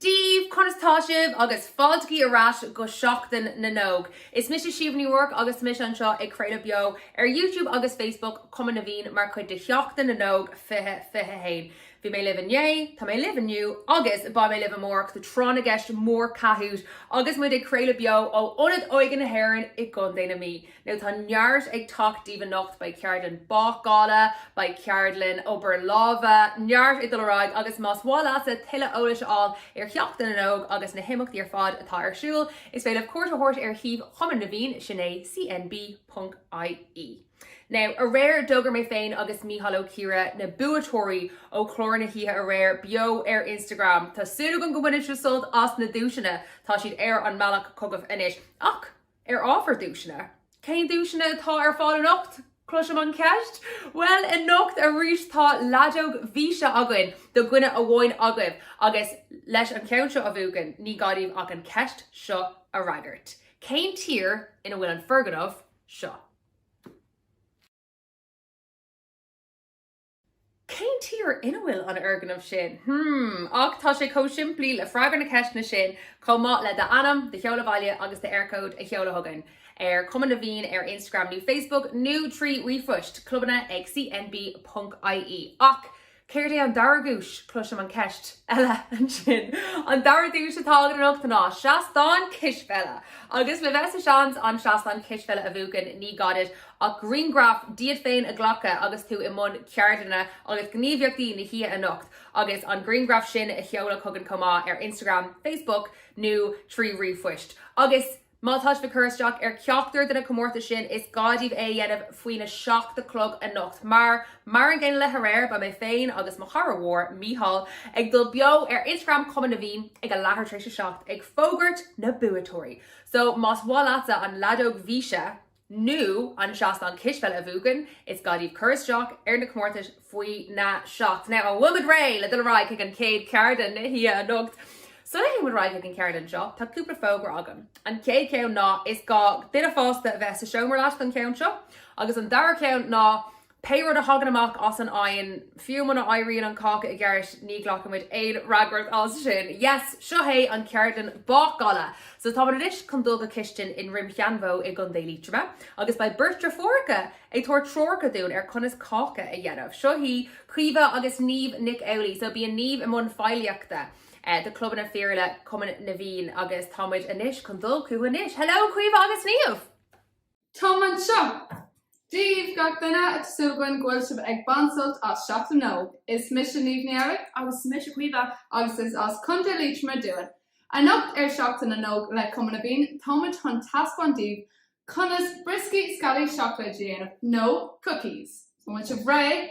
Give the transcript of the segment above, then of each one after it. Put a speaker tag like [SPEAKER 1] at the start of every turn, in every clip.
[SPEAKER 1] Daoibh! Conas tá sibh? Agus fáilte ar ais go Seachtain na nÓg! Is mise Síomha Ní Ruairc agus tá mise anseo ag craoladh beo ar YouTube agus Facebook Cumann na bhFiann mar chuid de Sheachtain na nÓg 2021. Bhí mé libh inné, tá mé libh inniu agus beidh mé libh amárach do Tráth na gCeist Mór Kahoot agus muid ag craoladh beo ó Ionad Óige na hÉireann i gContae na Mí. Now tá neart ag teacht daoibh anocht, beidh ceardlann bácála, beidh ceardlann obair láimhe, neart ag dul ar aghaidh agus más maith leatsa tuilleadh eolais a fháil ar Sheachtain na nÓg agus na himeachtaí ar fad atá ar siúl is féidir libh cuairt a thabhairt ar shuíomh Chumann na bhFiann, sin é cnb ponc ie. Now aréir d'fhógair mé féin agus Mícheál Ó Ciaraidh na buaiteoirí ó chlár na hoíche aréir beo ar Instagram. Tá súil agam go mbainfidh sibh sult as na duaiseanna, tá siad ar an mbealach chugaibh anois. Ach. Ar ábhar duaiseanna, cén duaiseanna atá ar fáil anocht? Cloisim an cheist? Bhuel, anocht arís tá leadóg luascáin againn do dhuine amháin agaibh agus leis an cheann seo a bhuachan ní gá duit ach an cheist seo a fhreagairt. Cén tír ina bhfuil an foirgneamh seo? Cén tír ina bhfuil an foirgneamh sin? Hmm. Ach tá sé chomh simplí le freagra na ceiste sin chomh maith le d'ainm, do sheoladh baile agus d'Eircode a sheoladh chugainn ar Cumann na bhFiann ar Instagram nó Facebook nó trí ríomhphost, clubanna ag cnb ponc ie. Ach céard é an dara duais? Cloisim an cheist eile ansin. An dara duais atá againn anocht ná seastán cispheile! Agus le bheith sa seans an seastán cispheile a bhuachan, ní gá duit ach griangraf díot féin a ghlacadh agus tú i mbun ceardlanna agus gníomhaíochtaí na hoíche anocht agus an griangraf sin a sheoladh chugainn chomh maith ar Instagram, Facebook nó trí ríomhphost. Agus má tá sibh ag cur isteach ar cheachtar de na comórtais sin is gá daoibh é a dhéanamh faoina seacht a chlog anocht mar, mar an gcéanna le haréir, beidh mé féin agus mo chara mór, Mícheál, ag dul beo ar Instagram Chumann na bhFiann ag a leathuair tar éis a seacht ag fógairt na buaiteoirí! So más maith leatsa an leadóg luascáin nó an seastán cispheile a bhuachan, is gá daoibh cur isteach ar na comórtais faoina seacht. Now. An bhfuil muid réidh le dul ar aghaidh chuig an chéad cheardlann na hoíche anocht? Sula théann muid ar aghaidh chuig an cheardlann seo, tá cúpla fógra agam. An chéad cheann ná is gá duine fásta a bheith sa seomra leat don cheann seo, agus an dara ceann ná, Pé rud a thagann amach as an oigheann, fiú muna éiríonn an cáca i gceart, ní ghlacfaimid aon fhreagairt as sin. Yes, seo é an ceardlann bácála. So táimid anois chun dul go cistin i nDroim Sheanbhó i gContae Liatroma agus beidh beirt deirfiúracha ag tabhairt treoracha dúinn ar conas cáca a dhéanamh. Seo iad Caoimhe agus Niamh Nic Amhlaoigh. So bíonn Niamh i mbun feighlíochta do Clubanna Fíorúla Chumann na bhFiann agus táimid anois chun dul chucu anois. Hello Caoimhe agus Niamh! Táimid anseo. Dia daoibh, gach duine, tá súil againn go bhfuil sibh ag baint sult as Seachtain na nÓg. Is mise Niamh Ní Fhearraigh. Agus is mise Caoimhe. Agus is as Contae Liatroma dúinn. Anocht ar Seachtain na nÓg le Cumann na bhFiann, táimid chun taispeáint daoibh conas brioscaí sceallaí seacláide a dhéanamh, nó cookies. An bhfuil sibh réidh?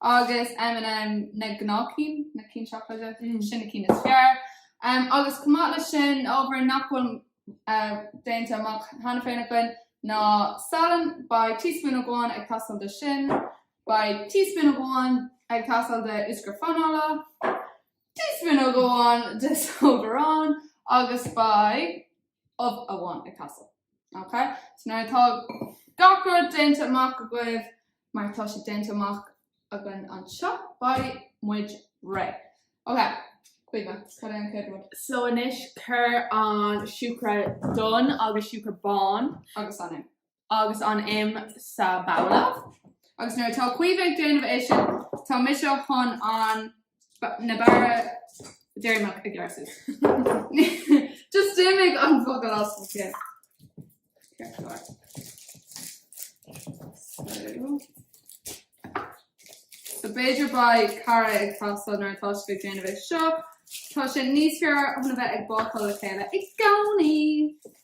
[SPEAKER 1] agus M&M na gnáthchinn, na cinn seacláide, sin na cinn is fearr. Agus chomh maith leis sin, na hábhair nach bhfuil déanta amach cheana féin againn ná salann, beidh teaspoon amháin ag teastáil de sin, beidh teaspoon amháin ag teastáil de úscra fanaile, teaspoon amháin de sóid aráin agus beidh ubh amháin ag teastáil. Ok? So an bhfuil gach rud déanta amach agaibh, mar tá sé déanta amach againn anseo. Beidh muid réidh. Ok, Caoimhe, cad é an chéad rud? So anois cuir an siúcra donn agus siúcra bán agus an im. agus an im sa babhla. Agus nuair atá Caoimhe ag déanamh é sin, tá mise chun an na barra deireanach ag leasú. Just d'imigh an focal as mo cheann. Ceartlár. So. So b'fhéidir beidh cara ag teastáil nuair atá tú ag déanamh é seo. Tá sé níos fearr a bheith ag bácáil le chéile i gcónaí.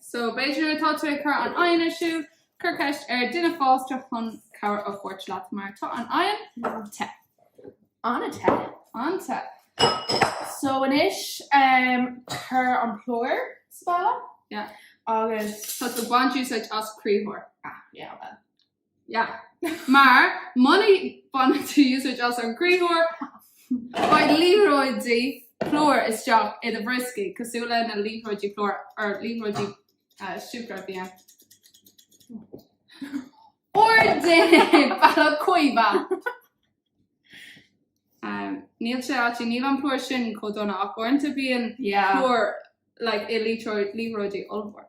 [SPEAKER 1] So b'fhéidir nuair atá tú ag cur an oigheann ar siúl, cur ceist ar duine fásta chun cabhair a thabhairt leat mar tá an oigheann te. An-te. An-te. So anois um, cur an plúr sa babhla. Yeah. Agus Tá tú ag baint úsáid as criathróir. ah, yeah, well. Yeah. Mar muna baineann tú úsáid as an gcriathróir, beidh liathróidí plúir isteach i do bhrioscaí, cosúil leis na liathróidí plúir, er, liathróidí siúcra a bhí ann. Fair play duit, a Chaoimhe! Níl sé áití, níl an plúr sin chomh dona ach uaireanta bíonn plúr i liathróidí ollmhór.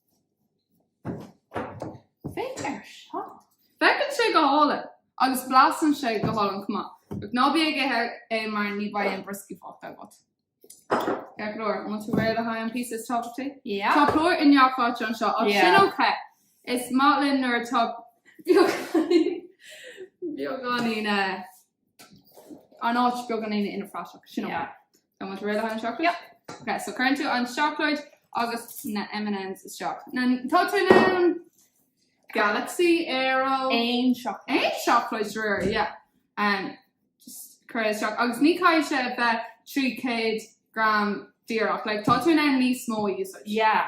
[SPEAKER 1] Féach air seo. Féachann sé go hálainn agus blasann sé go hálainn chomh maith. Ach ná bí ag ithe é mar ní bheidh aon brioscaí fágtha agat. Féach air. An bhfuil tú réidh le haghaidh an píosa is tábhachtaí? Yeah. Tá plúr i ngach áit anseo ach sin Yeah. ócé. Is maith linn nuair atá beagáinín, beagáinín eh, an áit beagáinín ina phraiseach. Sin ócé. Yeah. Tá muid réidh le haghaidh an seacláid? Yep. Ok, so cuireann tú an seacláid agus na M&Ms isteach. Na, tá tú na Galaxy, Aero. Aon seacláid. Aon seacláid de réir, yeah. Um, just cuir é isteach. Agus ní caithfidh sé a bheith 300 gram díreach. Like, tá tú in ann níos mó a úsáid. Yeah.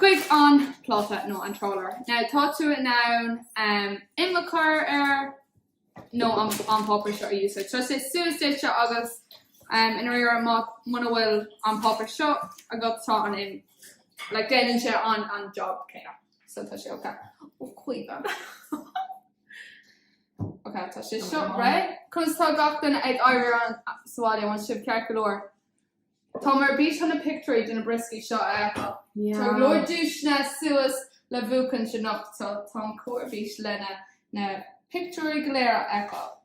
[SPEAKER 1] chuig an pláta nó an trálaer. Now tá tú in ann im a chur air nó an páipéar seo a úsáid. Tá sé suas duitse agus i ndairíre muna bhfuil an páipéar seo agat tá an im like déanann sé an job céanna. So tá sé ok. Ó cuidadh. Ok tá sé seo réidh. Conas tá gach duine ag éirí ann sa bhaile? An bhfuil sibh ceart go leor? Táim ar bís chun na pictiúirí de na brioscaí seo a fheiceáil. Tá go leor duaiseanna suas le buachaint anocht so táim chomh ar bís leis na pictiúirí go léir a fheiceáil.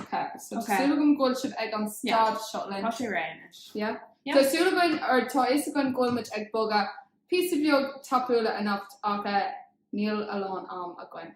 [SPEAKER 1] Ok, so tá súil agam go bhfuil sibh ag an stad seo linn. Tá sé réidh anois. Yeah? Yeah. Tá súil againn, or tá a fhios againn go bhfuil muid ag bogadh píosa beag tapúla anocht ach eh níl a lán am againn.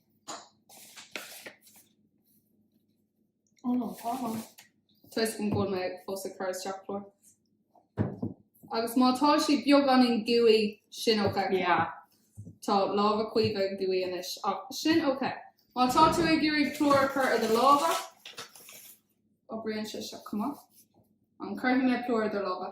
[SPEAKER 1] Oh no, tá ann. Tuigim go bhfuil mé fós ag cur isteach plúr. Agus má tá sé beagáinín gooey, sin ok. Yeah. Tá lámha Caoimhe gooey anois, ach sin ok. Má tá tú ag iarraidh plúr a chur ar do lámha, oibríonn sé sin chomh maith. An gcuirfidh mé plúr ar do lámha?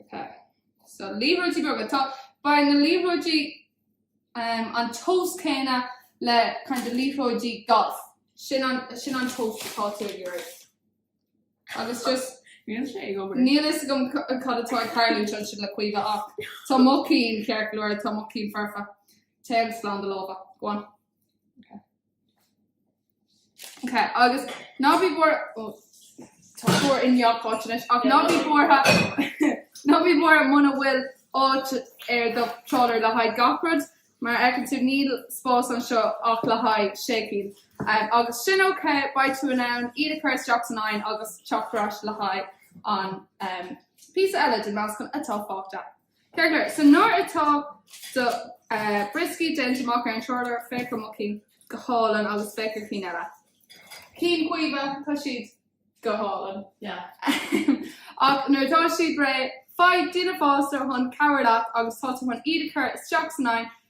[SPEAKER 1] Ok so liathróidí beaga tá beidh na liathróidí um, an tomhas céanna le kind of liathróidí golf. Sin an, sin an tomhas atá tú ag iarraidh. Agus just Níl sé ag obair. Níl a fhios agam cad atá ag tarlú ansin sin le Caoimhe ach tá mo cinn ceart go leor, tá mo cinn foirfe. Téann slán do lámha. Go on. Agus ná bí buartha, ó tá plúr i ngach áit anois, ach ná bí buartha, ná bí buartha muna bhfuil áit ar do trálaer le haghaidh gach rud, mar a fheiceann tú níl spás anseo ach le haghaidh sé cinn. Agus sin óicé, beidh tú in ann iad a chur isteach san oigheann agus teacht ar ais le haghaidh an píosa eile den meascán atá fágtha. Ceart nuair, so nuair atá do brioscaí déanta amach ar an tráidire féach ar mo chinn go hálainn agus féach ar cinn eile. Cinn Chaoimhe, tá siad go hálainn. Ahem. Ach nuair atá siad réidh faigh duine fásta chun cabhrú leat agus tá tú chun iad a chur isteach san oigheann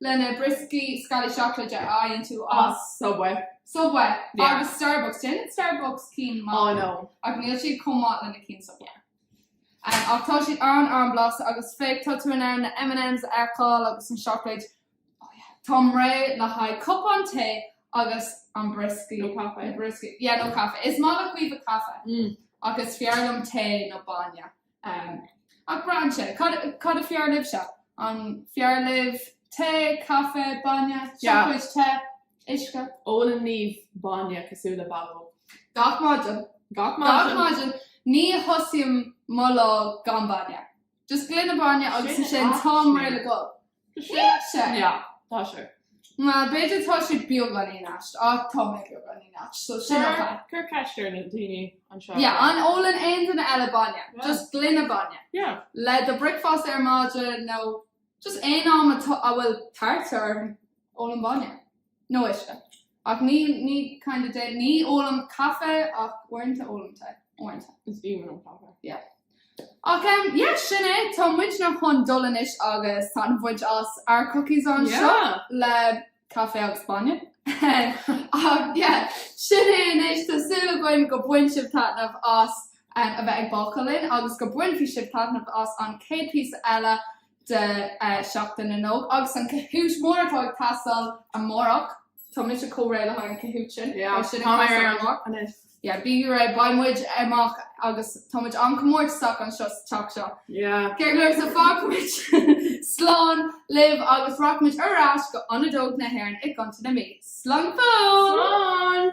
[SPEAKER 1] leis na brioscaí sceallaí seacláid a fhaigheann tú as. Subway. Subway. Yeah. Agus Starbucks. Déanann Starbucks cinn maith. Oh no. Ach níl siad chomh maith leis na cinn Subway. Um, ach tá siad an- an-bhlasta agus féach tá tú in ann na M&Ms a fheiceáil agus an seacláid. Oh yeah. Táim réidh le haghaidh cupán tae agus an brioscaí. Nó caife. An brioscaí. Yeah, nó caife. Is maith le Caoimhe caife. Mm. Ach is fearr liom tae nó bainne. Ach braitheann sé, cad is fearr libhse? An fearr libh tae, caife, bainne, seacláid te, uisce? Ólann Niamh bainne cosúil le bó. Gach maidin. Gach maidin. Ní thosaím mo lá gan bainne. Just gloine bainne agus ansin táim réidh le dul. Tá sé aisteach. Yeah, tá sé. Má, b'fhéidir tá sé beagáinín aisteach, ach tá mé beagáinín aisteach, so sin an fáth. Cuir ceist ar na daoine anseo ar Yeah, an ólann aon duine eile bainne, Yeah. just gloine bainne, Yeah. le do bricfeásta ar maidin nó just aon am atá, a bhfuil tart orm, ólann bainne. Nó uisce. Ach ní, ní, kinda de, ní ólaim caife ach uaireanta ólaim tae. Uaireanta. Is aoibhinn liom caife. Yeah. Ach em, yeah, sin é. Tá muidne chun dul anois agus taitneamh a bhaint as ár cookies anseo. Yeah! Le caife agus bainne. Ach yeah, sin é anois. Tá súil againn go bain sibh taitneamh as em, a bheith ag bácáil linn agus go bainfidh sibh taitneamh as an chéad píosa eile. de Sheachtain na nÓg agus an Kahoot mór atá ag teastáil amárach. Tá mise chomh réidh le haghaidh an Kahoot sin. Yeah, Tá sin ag tá mé ag teastáil amárach. lá anois. Yeah, bí réidh, beidh muid amach agus tá muid an-chomórtasach anseo sa teach seo. Yeah. Ceart go leor so fágfaidh muid slán libh agus rachaidh muid ar ais go Ionad Óige na hÉireann i gContae na Mí. Slán go fóill! Slán!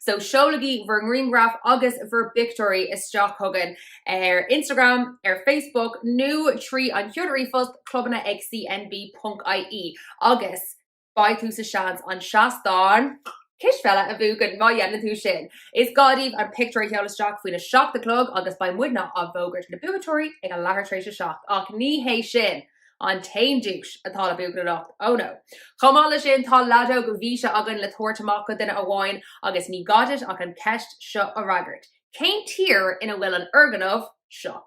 [SPEAKER 1] So seolaigí bhur ngrianghraif agus bhur bpictiúirí isteach chugainn ar Instagram, ar Facebook nó tríd an chuid ríomhphoist, clubanna ag cnag ponc ie, agus beidh tú sa seans an seastán cispheile a bhuachan má dhéanann tú sin! Is gá daoibh an pictiúr a sheoladh isteach faoin 7 a chlog agus beidh muidne ag fógairt na buaiteoirí ag a leathuair tar éis a seacht, ach ní hé sin! An t-aon duais atá le buachan anocht, oh no. Chomh maith le sin tá leadóg bhíse againn le tabhairt amach go duine amháin agus ní gá duit ach an cheist seo a fhreagairt, Cén tír ina bhfuil an fhoirgneamh seo?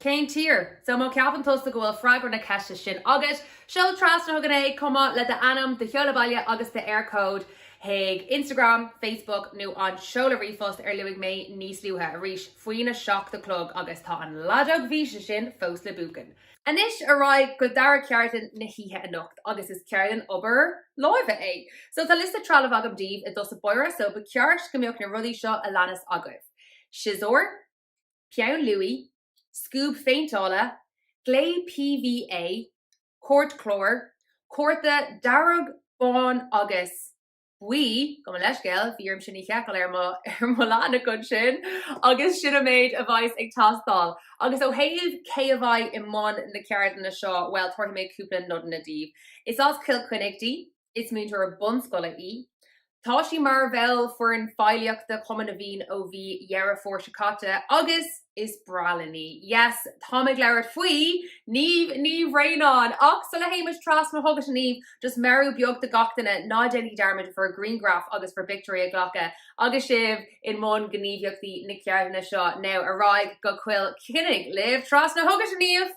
[SPEAKER 1] Cén tír? So má ceapann tusa go bhfuil freagra na ceiste sin agat, seol trasna chugainn é, chomh maith le d'ainm, do sheoladh baile agus d'Éircode. chuig Instagram, Facebook nó an seoladh ríomhphost ar luaigh mé níos luaithe, arís faoin a seacht a chlog agus tá an leadóg bhíse sin fós le buachan! Anois ar aghaidh go dara ceardlann na hoíche anocht agus is ceardlann obair láimhe é. So tá liosta trealamh agam daoibh i dtús báire so ba cheart go mbeadh na rudaí seo a leanas agaibh, siosúr, peann luaidhe, scuab phéinteála, glae PVA, cairtchlár, cárta dearg, bán agus buí, gabh mo leithscéal, bhí orm sin a sheiceáil ar mo ar mo leathanach ansin, agus sin an méid a bheas ag teastáil. Agus ó thaobh cé a bheidh i mbun na ceardlainne seo, bhuel, tabharfaidh mé cúpla nodanna daoibh. Is as Cill Chainnigh di, Is múinteoir bunscoile í. Tá sí mar bhall foireann feighlíochta Chumann na bhFiann ó mhí Dheireadh Fómhair seo caite agus is breá linn í. Yes, táim ag labhairt faoi Niamh Ní Bhraonáin! Ach sula théimis trasna chugat, a Niamh, just meabhrú beag do gach duine, ná déanaigí dearmad bhur grianghraif agus bhur bpictiúirí a ghlacadh agus sibh i mbun gníomhaíochtaí na ceardlainne seo. Now, ar aghaidh go Cill Chainnigh libh! Trasna chugat, a Niamh!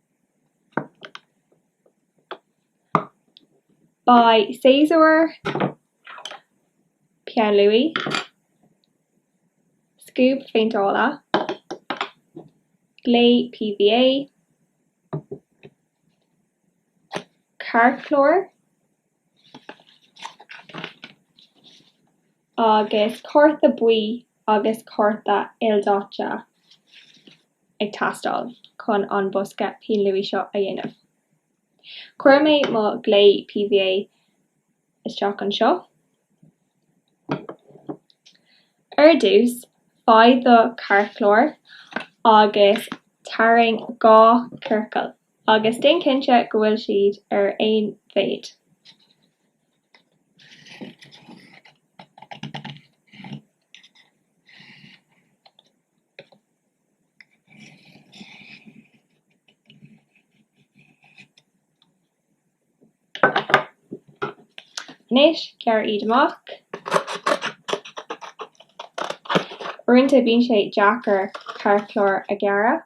[SPEAKER 1] Beidh siosúr, peann luaidhe, scuab phéinteála, glae PVA, cairtchlár, Agus cárta buí agus cárta ildaite ag teastáil chun an bosca pinn luaidhe seo a dhéanamh. Chuir mé mo ghlae PVA isteach anseo. Ar dtús, faigh do chairtchlár agus tarraing dhá chiorcal, agus déan cinnte go bhfuil siad ar aon mhéid. Anois, gearr iad amach. Uaireanta bíonn sé deacair cairtchlár a ghearradh.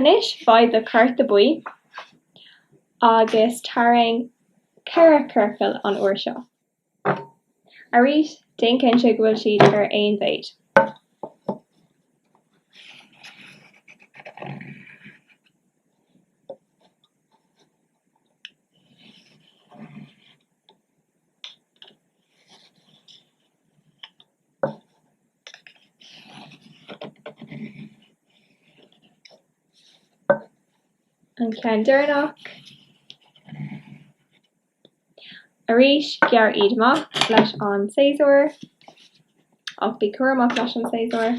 [SPEAKER 1] Anois faigh do chárta buí agus tarraing ceithre chiorcal an uair seo. Arís, déan cinnte go bhfuil siad ar aon mhéid. An ceann deireanach. Arís, gearr iad amach leis an siosúr, ach bí cúramach leis an siosúr.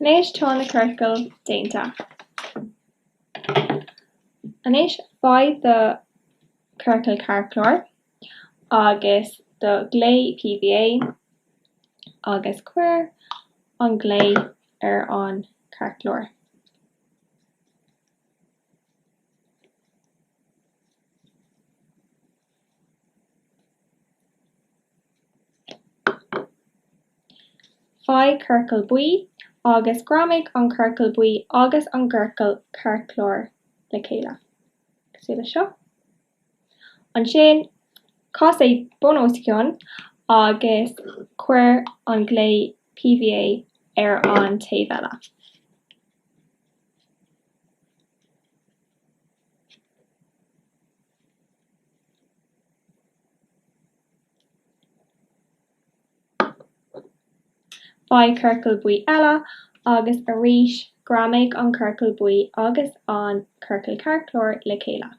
[SPEAKER 1] Anois tá na ciorcail déanta. Anois faigh do chiorcal cairtchláir agus do ghliú PVA agus cuir an gliú ar an chairtchlár. Faigh ciorcal buí agus greamaigh an ciorcal buí agus an ciorcal cairtchláir le chéile, cosúil leis seo. Ansin, cas é bun os cionn agus cuir an gliú PVA ar an taobh eile. Faigh ciorcal buí eile agus arís greamaigh an ciorcal buí agus an ciorcal cairtchláir le chéile.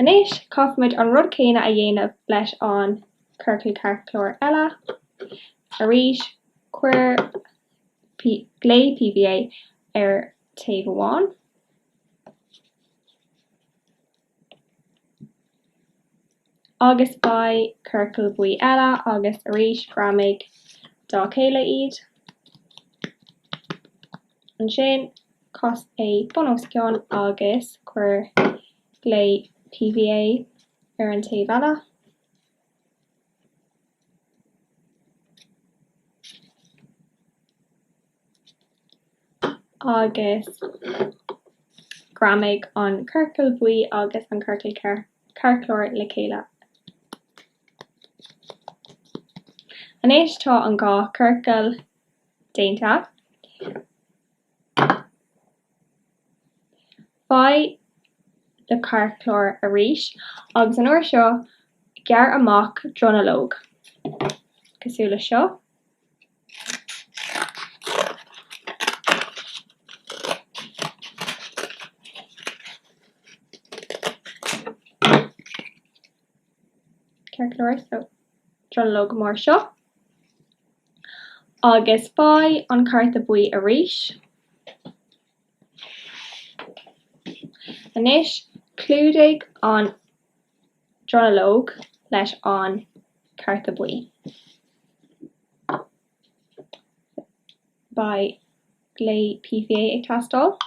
[SPEAKER 1] Anois caithfimid an rud céanna a dhéanamh leis an ciorcal cairtchláir eile. Arís cuir gliú PVA ar taobh amháin. Agus faigh ciorcal buí eile agus arís greamaigh dá chéile iad. Ansin cas é bun os cionn agus cuir gliú PVA ar an taobh eile. agus greamaigh an ciorcal buí agus an ciorcal cairtchláir le chéile. Anois tá an dhá chiorcal déanta. Faigh do chairtchlár arís agus an uair seo gearr amach dronuilleog, cosúil le seo. Agus faigh an cárta buí arís. Anois clúdaigh an dronuilleog leis an cárta buí. Beidh gliú PVA ag teastáil.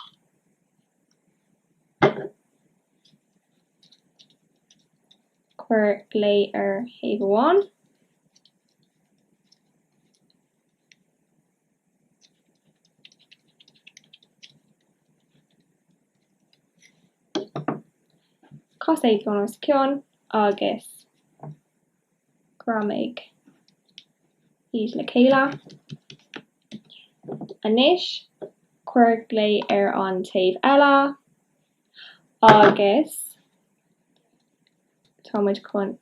[SPEAKER 1] Cuir gliú ar thaobh amháin. Cas é bun os cionn agus greamaigh iad le chéile. Anois cuir gliú ar an taobh eile. agus tá muid chun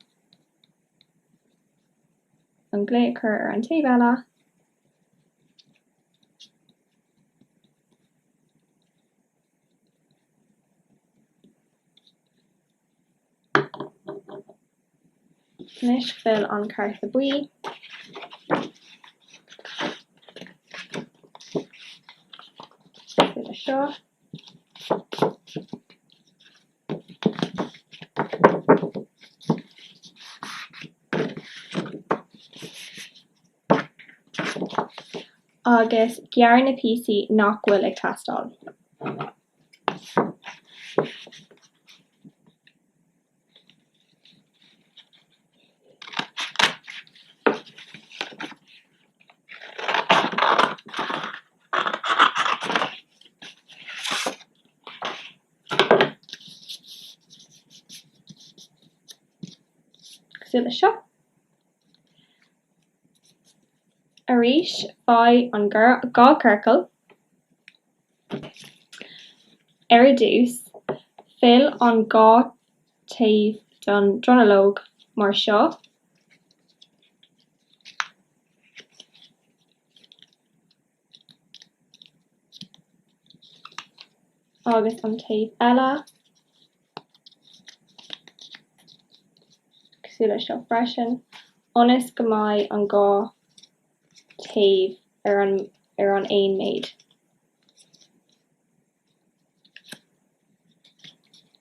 [SPEAKER 1] an gliú a chur ar an taobh eile. Anois fill an cárta buí. Fill é seo. Agus gearr na píosaí nach bhfuil ag teastáil. cosúil le seo. Arís, faigh an dá chiorcal. Ar dtús, fill an dá thaobh den dronuilleog mar seo. Agus an taobh eile. Cosúil le seo freisin. Ionas go mbeidh an dá thaobh ar an aon méid.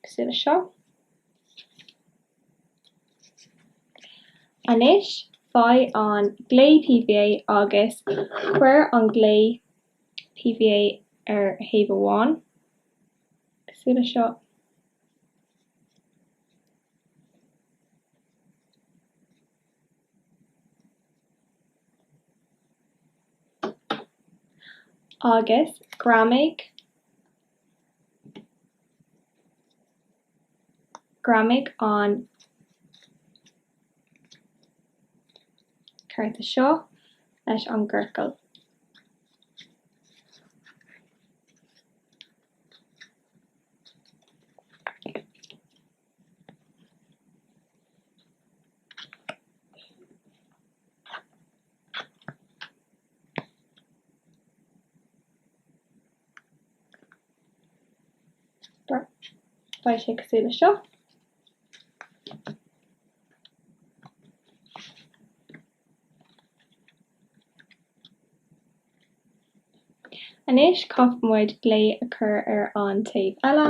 [SPEAKER 1] Cosúil le seo. Anois faigh an glae PVA agus cuir an glae PVA ar thaobh amháin. Cosúil le seo. Agus greamaigh, greamaigh an cárta seo leis an gciorcal. Beidh sé cosúil le seo. Anois caithfimid glae a chur ar an taobh eile.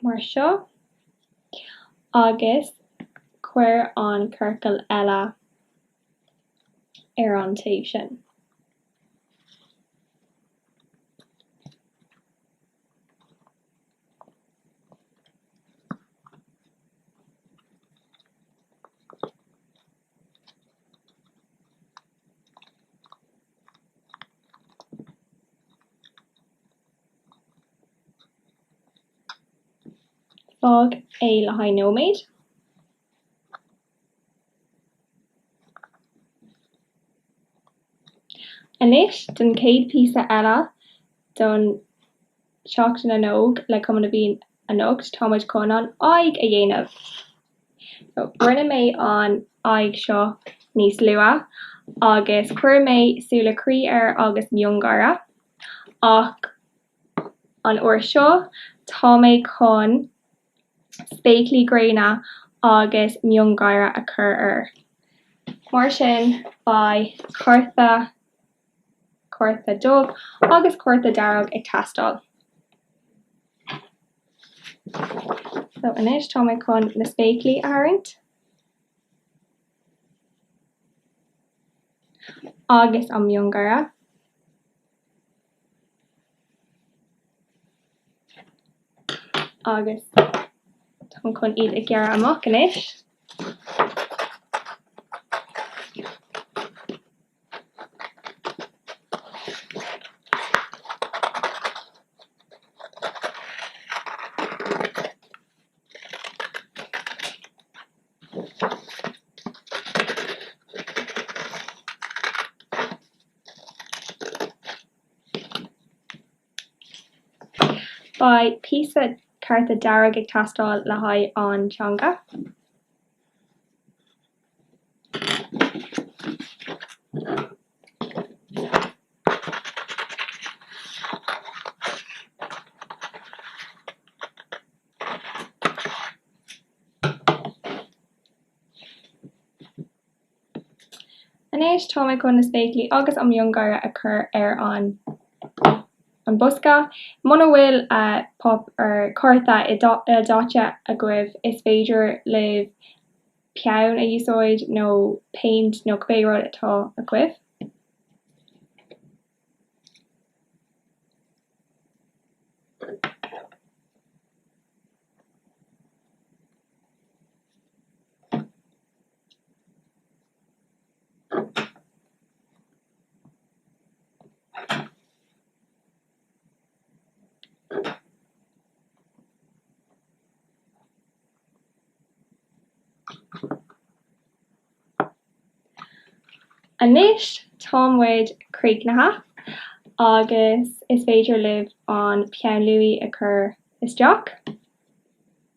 [SPEAKER 1] mar seo, agus cuir an ciorcal eile. ar an taobh sin. Fág é le haghaidh nóiméad. Anois don chéad píosa eile do Sheachtain na nÓg le Cumann na bhFiann anocht tá muid chun an aghaidh a dhéanamh. Rinne mé an aghaidh seo níos luath agus chuir mé súile croí air agus miongháire ach an uair seo tá mé chun. spéaclaí gréine agus miongháire a chur air. Mar sin, beidh cárta, cárta dubh agus cárta dearg ag teastáil. So, anois tá mé chun na spéaclaí a tharraingt. Agus an miongháire. Agus táim chun iad a ghearradh amach anois. Beidh píosa cárta dearg ag teastáil le haghaidh an teanga. Anois táim chun na spéaclaí agus an miongháire a chur ar an bosca. Muna bhfuil páipéar cárta ildaite agaibh is féidir libh peann a úsáid nó péint nó cibé rud atá agaibh. Anois tá muid críochnaithe agus is féidir libh an peann luaidhe a chur isteach.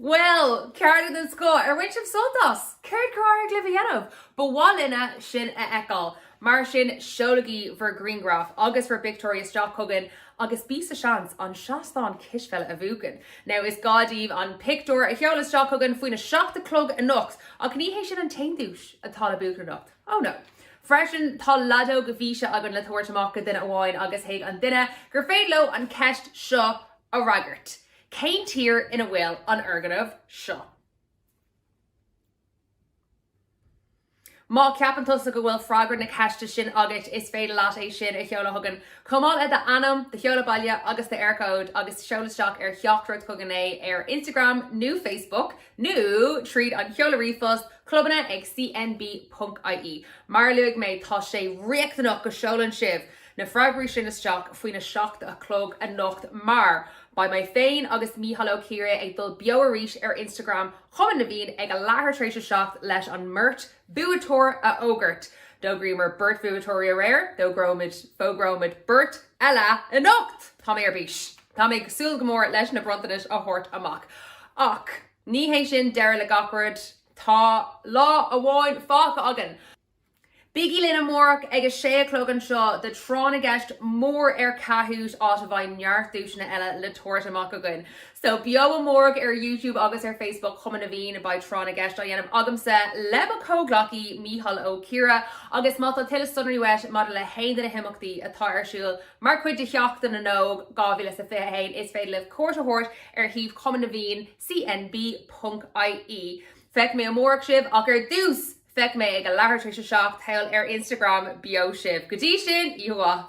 [SPEAKER 1] Bhuel, cárta den scoth. Ar bhain sibh sult as? Céard ar éirigh libh a dhéanamh? Ba mhaith linne sin a fheiceáil. Mar sin, seolaigí bhur grianghraif agus bhur bpictiúirí isteach chugainn agus bí sa tseans an seastán cispheile a bhuachan. Now, is gá daoibh an pictiúr a sheoladh isteach chugainn faoin a seacht a chlog anocht, ach ní hé sin an t-aon duais atá le buachan anocht. Oh no. Freisin, tá leadóg mhéise againn le tabhairt amach go duine amháin agus chuig an duine gur féidir leo an cheist seo a fhreagairt. Cén tír ina bhfuil an foirgneamh seo? Má ceapann tusa go bhfuil freagra na ceiste sin agat is féidir leat é sin a sheoladh chugainn, chomh maith le d'ainm, do sheoladh baile agus d'Eircode agus seol isteach ar theachtaireacht chugainn é ar Instagram nó Facebook nó tríd an seoladh ríomhphost, clubanna ag cnb ponc ie. Mar a luaigh mé tá sé riachtanach go seolann sibh! na freagraí sin isteach faoina seacht a chlog anocht mar beidh mé féin agus Mícheál Ó Ciaraidh ag dul beo arís ar Instagram Chumann na bhFiann ag a leathuair tar éis a seacht leis an mbeirt bhuaiteoir a fhógairt. D'fhógraíomar beirt buaiteoirí aréir, d'fhógróimid, fógróimid, beirt eile anocht! Tá mé ar bís. Tá mé ag súil go mór leis na bronntanais a thabhairt amach. Ach ní hé sin deireadh le gach rud. Tá lá amháin fágtha againn! Bígí linn amárach ag a sé a chlog anseo do Thráth na gCeist mór ar Kahoot! áit a bheidh neart duaiseanna eile le tabhairt amach againn. So, beo amárach ar Youtube agus ar Facebook Chumann na bhFiann, beidh Tráth na gCeist á dhéanamh agamsa le mo chomhghleacaí Mícheál Ó Ciaraidh agus má tá tuilleadh sonraí uait maidir le haon de na himeachtaí atá ar siúl mar chuid de Sheachtain na nÓg 2021 is féidir libh cuairt a thabhairt ar shuíomh Chumann na bhFiann, cnb.ie. Feicfidh mé amárach sibh ach ar dtús! Feicfidh mé ag a leathuair tar éis a seacht, thall ar Instagram beo sibh. Go dtí sin, oíche mhaith!